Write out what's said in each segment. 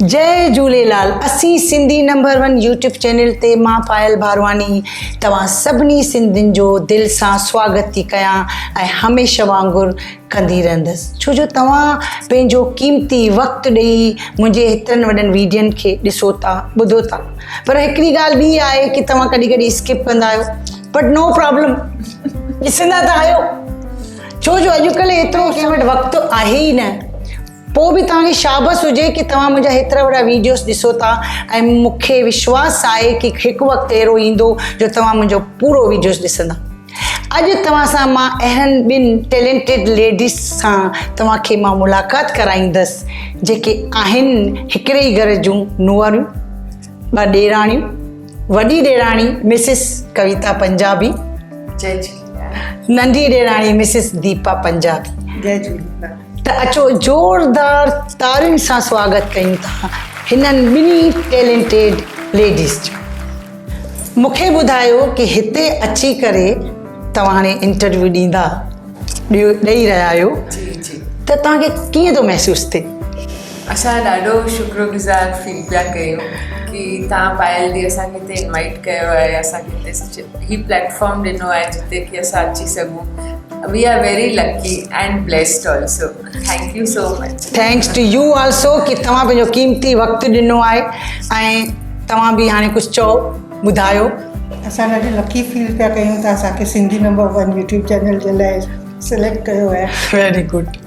جئي جهوليلال اسين Sindhi number one YouTube channel تي مان پايل ڀارواني توهان سڀني سنڌين جو دل سان سواگت ٿي ڪيان ۽ هميشه وانگر ڪندي رهندس ڇو جو توهان پنهنجو قيمتي وقت ڏئي منهنجي هيترن وڏن ويڊين کي ڏسو ٿا ٻڌو ٿا پر هڪڙي ڳالهه ٻي آهي ڪي توهان ڪڏهن ڪڏهن اسڪپ ڪندا آهيو بٽ نو پرابلم ڏسندا ته آهيو ڇو جو اڄڪلهه ايترو ڪنهن وٽ وقت آهي ئي نه. پوء به توهان کي شابس هجي ڪي توهان منهنجا هيترا وڏا ويڊيوز ڏسو ٿا ۽ مون کي وشواس آهي ڪي هڪ وقت اهڙو ايندو جو توهان منهنجو پورو ويڊيوز ڏسندا. اڄ توهان سان مان اهڙن ٻن ٽيلينٽيڊ ليڊيز سان توهان کي مان ملاقات ڪرائيندس جيڪي آهن هڪڙي ئي گهر جون نوهاريون. ٻه ڏيراڻيون وڏي ڏيراڻي مسز ڪويتا پنجابي جي جي ننڍي ڏيراڻي مسز ديپا پنجابي جي جي ته اچو زوردار تارين سان سواگت ڪيون ٿا هنن ٻنهي ٽيلنٽيڊ ليڊيز جو مونکي ٻڌايو ڪي هتي اچي ڪري توهان هاڻي انٽرويو ڏيندا ڏيو ڏيئي رهيا آهيو ته توهان کي ڪيئن ٿو محسوس ٿئي اسان ڏاڍو شڪر گذار فيل پيا ڪيون ڪي تان پائل دي اسان کي تي انوائٽ ڪيو آهي اسان کي تي سچ هي پليٽ فارم ڏنو آهي جتي کي اسان اچي سگهون we are very lucky and blessed also thank you so much thanks to you also ڪي توهان پنهنجو قيمتي وقت ڏنو آهي ۽ توهان به هاڻي ڪجهه چئو ٻڌايو اسان ڏاڍي لڪي فيل پيا ڪيون ته اسان کي Sindhi number one YouTube channel جي لاء سليڪٽ ڪيو آهي ويري گڊ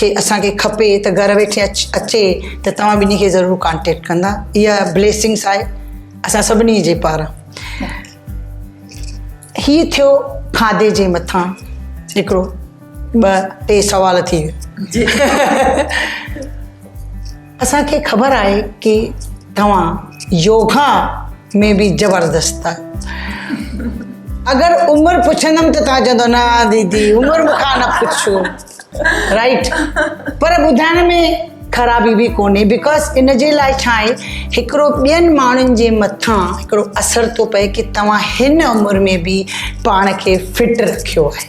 کي اسان کي کپي ته گهر ويٺي اچي ته توهان ٻنهي کي ضرور ڪانٽيڪٽ ڪندا اها بليسنگس آهي اسان سڀني جي پار هي ٿيو کاڌي جي مٿان هڪڙو ٻه ٽي سوال ٿي ويا اسان کي خبر آهي ڪي توهان يوگا ۾ به زبردست آهيو اگر عمر پڇندم ته توهان چوندو نه ديدي عمر مون کان نه پڇو رائٽ پر ٻڌائڻ ۾ خرابي به ڪونهي بڪاز ان جي لاء ڇا آهي هڪڙو ٻين ماڻهن جي مٿان هڪڙو اثر ٿو پئي ڪي توهان هن عمر ۾ به پاڻ کي فٽ رکيو آهي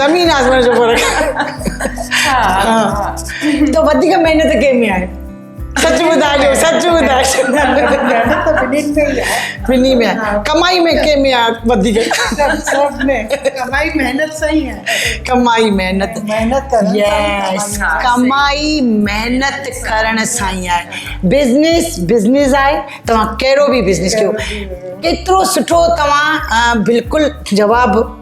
زمين آسمان جو فرق تو وديڪ محنت ڪنهن ۾ آهي سچ ٻڌاء جو سچ ٻڌاء ٻنهي ۾ ڪمائي ۾ ڪنهن ۾ آهي وڌيڪ ڪمائي محنت سان ئي آهي ڪمائي محنت محنت يس ڪمائي محنت ڪرڻ سان ئي آهي بزنس بزنس آهي توهان ڪهڙو به بزنس ڪيو ڪيترو سٺو توهان بلڪل جواب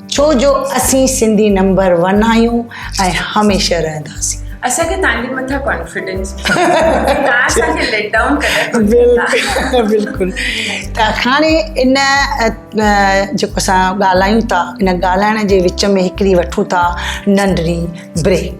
ڇو جو اسين سنڌي نمبر ون آهيون ۽ هميشه رهنداسين. اسان کي تانجي مٿان ڪانفيڊنس ڪا اسان کي ليٽ ڊائون ڪڏهن بلڪل بلڪل ته هاڻي ان جيڪو اسان ڳالهايون ٿا ان ڳالهائڻ جي وچ ۾ هڪڙي وٺون ٿا ننڍڙي بريڪ.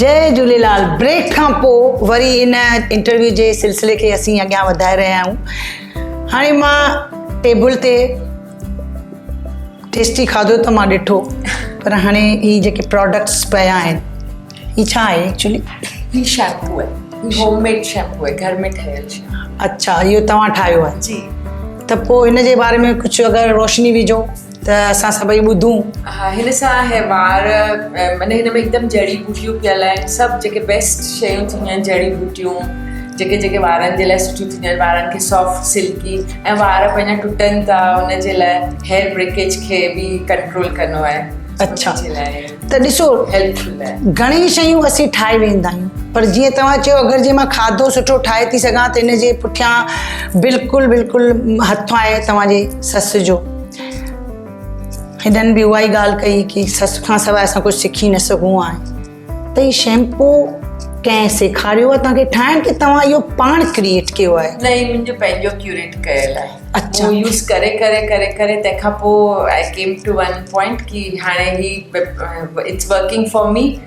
جئي جھوليلال بريڪ کان پو وري ان انٽرويو جي سلسلي کي اسين اڳيان وڌائي رهيا آهيون هاڻي مان ٽيبل تي ٽيسٽي کاڌو ته مان ڏٺو پر هاڻي هي جيڪي پروڊڪٽس پيا آهن هي ڇا آهي ايڪچولي هي شيمپو آهي هي هوم ميڊ شيمپو آهي گهر ۾ ٺهيل اچھا اهو توهان ٺاهيو آهي جي ته پو هن جي باري ۾ ڪجھه اگر روشني وجھو ته اسان سڀئي ٻڌون. ها هن سان هي وار معنی هن ۾ هڪدم جڙي بوٽيون پيل آهن سڀ جيڪي بيسٽ شيون ٿينديون آهن جڙي بوٽيون جيڪي جيڪي وارن جي لاء سٺيون ٿينديون آهن وارن کي سافٽ سلڪي ۽ وار پنهنجا ٽٽن ٿا ان جي لاء هيئر بريڪيج کي به ڪنٽرول ڪندو آهي اچھا جي لاء ته ڏسو هيلپفل آهي گھڻي شيون اسين ٺاهي ويندا آهيون پر جيئن توهان چيو اگر جي مان کاڌو سٺو ٺاهي ٿي سگھان ته ان جي پٺيان بلڪل بلڪل هٿ آهي توهان جي سس جو هنن به اها ئي ڳالهه ڪئي ڪي سس کان سواء اسان ڪجهه سکي نه سگهون ها ته هي شيمپو ڪنهن سيکاريو ته کي ٺاهڻ کي توهان اهو پاڻ ڪرييٽ ڪيو آهي نه هي منهنجو پنهنجو ڪيوريٽ ڪيل آهي اچھا يوز ڪري ڪري ڪري ڪري تنهن کان پوء I came to one point ڪي هاڻي هي اٽس ورڪنگ فار مي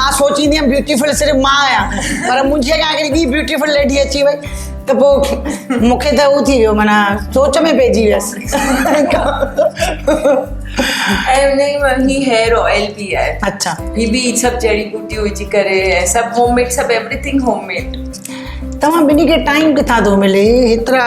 مان سوچيندي هيم بيوٽيفل صرف مان آهيان پر منهنجي اڳيان هڪڙي ٻي بيوٽيفل ليڊي اچي وئي ته پوء مون کي ته هو ٿي ويو معنيٰ سوچ ۾ پئجي ويسي توهان ٻنهي کي ٽائيم ڪٿان ٿو ملي هيترا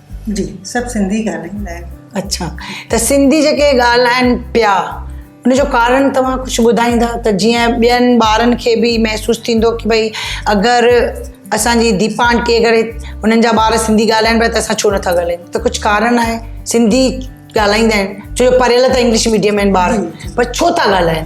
جي سڀ سنڌي ڳالهائيندا آهن. اڇا ته سنڌي جيڪي ڳالهائن پيا ان جو ڪارڻ توهان ڪجهه ٻڌائيندا ته جيئن ٻين ٻارن کي به محسوس ٿيندو ڪي ڀئي اگر اسان جي ديپا آنٽي اگر انهن جا ٻار سنڌي ڳالهائن پيا ته اسان ڇو نٿا ڳالهائيون ته ڪجهه ڪارڻ آهي سنڌي ڳالهائيندا آهن ڇو جو پڙهيل ته انگلش ميڊيم آهن ٻار پر ڇو ٿا ڳالهائن.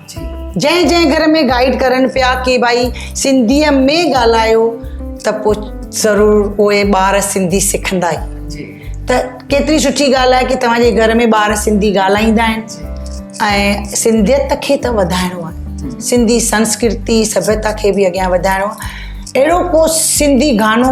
جنهن جنهن گهر ۾ گائيڊ ڪرن پيا ڪي ڀائي سنڌيء ۾ ڳالهايو ته پوء ضرور اهي ٻار سنڌي سکندا ئي ته ڪيتري سٺي ڳالهه آهي ڪي توهان جي گهر ۾ ٻار سنڌي ڳالهائيندا آهن ۽ سنڌيت کي ته وڌائڻو آهي سنڌي سنسڪرتي سڀيتا کي به اڳيان وڌائڻو آهي اهڙو ڪو سنڌي گانو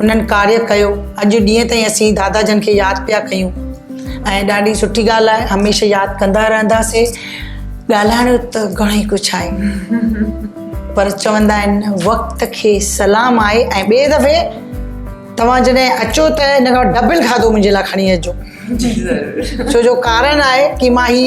انهن ڪاريه ڪيو اڄ ڏينهن تائين اسين دادا جن کي ياد پيا ڪيون ۽ ڏاڍي سٺي ڳالهه آهي هميشه ياد ڪندا رهنداسي ڳالهائڻ جو ته گهڻي ڪجهه آهي پر چوندا آهن وقت کي سلام آهي ۽ ٻئي دفعي توهان جڏهن اچو ته ان کان ڊبل کاڌو منهنجي لاء کڻي اچجو جي ضرور ڇو جو ڪارن آهي ڪي مان هي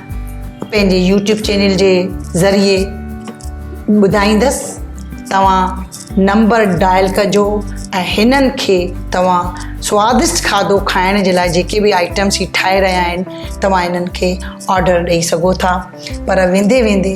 پنهنجي يوٽيوب چينل جي ذريعي ٻڌائيندس توهان نمبر ڊائل ڪجو ۽ هنن کي توهان سوادشٽ کاڌو کائڻ جي لاء جيڪي به آئٽمس هي ٺاهي رهيا آهن توهان هنن کي آرڊر ڏئي سگهو ٿا پر ويندي ويندي